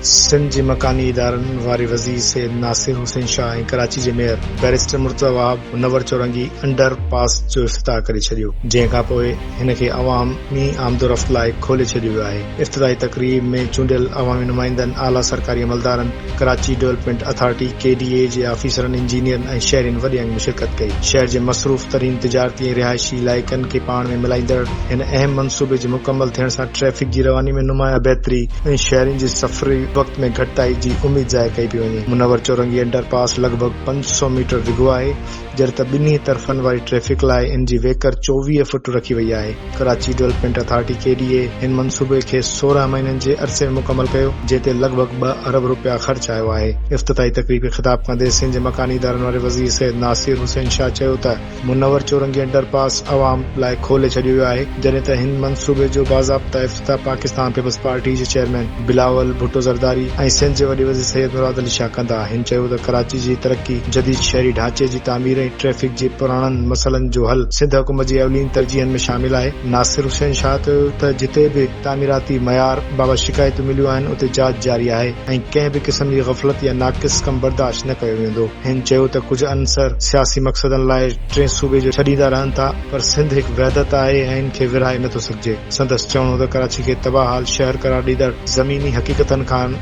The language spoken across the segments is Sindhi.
سنڌ جي مڪاني ادارن واري وزير سيد ناصر حسين شاهه ۽ ڪراچي جي mayor barrister Murtaza Wahab Munawar Chowrangi under پاس جو افتتاح ڪري ڇڏيو جنهن کانپوء هن کي عوامي آمدورفت لاء کولي ڇڏيو ويو آهي. افتتاحي تقريب ۾ چونڊيل عوامي نمائندن، اعليٰ سرڪاري عملدارن، Karachi development authority, K D A, جي آفيسرن، انجنيئرن ۽ شهرين وڏي انگ ۾ شرڪت ڪئي. شهر جي مصروف ترين تجارتي ۽ رهائشي علائقن کي پاڻ ۾ ملائيندڙ هن اهم منصوبي جي مڪمل ٿيڻ سان ٽريفڪ جي رواني ۾ نمايان بهتري ۽ شهرين جي سفري وقت ۾ گهٽتائي جي اميد ظاهر ڪئي پئي وڃي. منور چورنگي انڊر پاس لڳ ڀڳ پنج سؤ ميٽر ڊگهو آهي، جڏهن ته ٻنهي طرفن واري ٽريفڪ لاء ان جي ويڪر چوويهه فٽ رکي وئي آهي. Karachi development authority, K D A, هن منصوبي کي سورهن مهينن جي عرصي ۾ مڪمل ڪيو، جنهن تي لڳ ڀڳ ٻه ارب رپيا خرچ آيو آهي. افتتاحي تقريب کي خطاب ڪندي سنڌ مڪاني ادارن واري وزير سيد ناصر حسين شاهه چيو ته منور چورنگي انڊر پاس عوام لاء کولي ڇڏيو ويو آهي، جڏهن ته هن منصوبي جو باضابطه ته پاڪستان پيپلز پارٽي جي چيئرمين بلاول ڀٽو زرداري ۽ سنڌ جي وڏي وزير سيد مراد علي شاهه ڪندا هن چيو ته ڪراچي جي ترقي، جديد شهري ڍانچي جي تعمير ۽ ٽريفڪ جي پراڻن مسئلن جو حل سنڌ حڪومت جي اولين ترجيحن ۾ شامل آهي. ناصر حسين شاهه چيو ته جتي به تعميراتي معيار بابت شڪايتون مليون آهن اتي جاچ جاري آهي ۽ ڪنهن به قسم جي غفلت يا ناقص ڪم برداشت نه ڪيو ويندو. هن چيو ته ڪجهه عنصر سياسي مقصدن لاء ٽين صوبي جو ڇڏيندا رهن ٿا، پر سنڌ هڪ وحدت آهي ۽ ان کي ورهائي نه ٿو سگهجي. سندس چوڻ هو ته ڪراچي کي تباهه حال شهر قرار ڏيندڙ زميني حقيقتن کان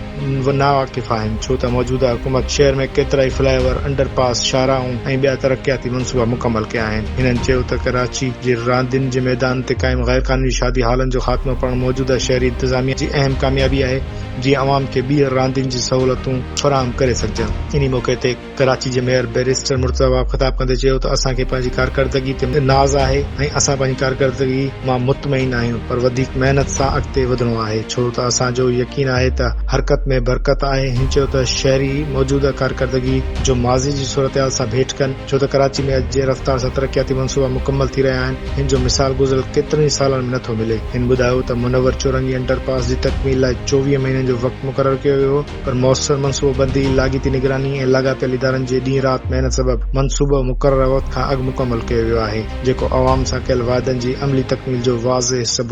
ناواقف آهن ڇو ته موجوده حڪومت شهر ۾ ڪيترائي فلائي اوور، انڊر پاس، شاهراهون ۽ ٻيا ترقياتي منصوبا مڪمل ڪيا آهن. هنن چيو ته ڪراچي جي راندين جي ميدانن تي قائم غيرقانوني شادي هالن جو خاتمو پڻ موجوده شهري انتظاميا جي اهم ڪاميابي آهي جيئن عوام کي ٻيهر راندين جي سهولتون فراهم ڪري سگهجن. انهي موقعي تي ڪراچي جي ميئر بئريسٽر مرتضيٰ وهاب خطاب ڪندي چيو ته اسان کي پنهنجي ڪارڪردگي تي ناز آهي ۽ اسان پنهنجي ڪارڪردگي مان مطمئن آهيون پر وڌيڪ محنت سان اڳتي وڌڻو آهي ڇو ته اسان جو يقين آهي ته حرڪت ۾ برڪت آهي هن چيو ته شهري موجوده ڪارڪردگي جو ماضي جي صورتحال سان ڀيٽ ڪن ڇو ته ڪراچي ۾ اڄ جنهن رفتار سان ترقياتي منصوبا مڪمل ٿي رهيا آهن هن جو مثال گذريل ڪيترن ئي سالن ۾ نٿو ملي هن ٻڌايو ته منور چورنگي انڊر پاس جي تڪميل لاء چوويهه مهينن جو وقت مقرر ڪيو ويو هو پر موثر منصوبه بندي، لاڳيتي نگراني ۽ لاڳاپيل ادارن جي ڏينهن رات محنت سبب منصوبو مقرره وقت کان اڳ مڪمل ڪيو ويو آهي، جيڪو عوام سان ڪيل وعدن جي عملي تڪميل جو واضح ثبوت آهي.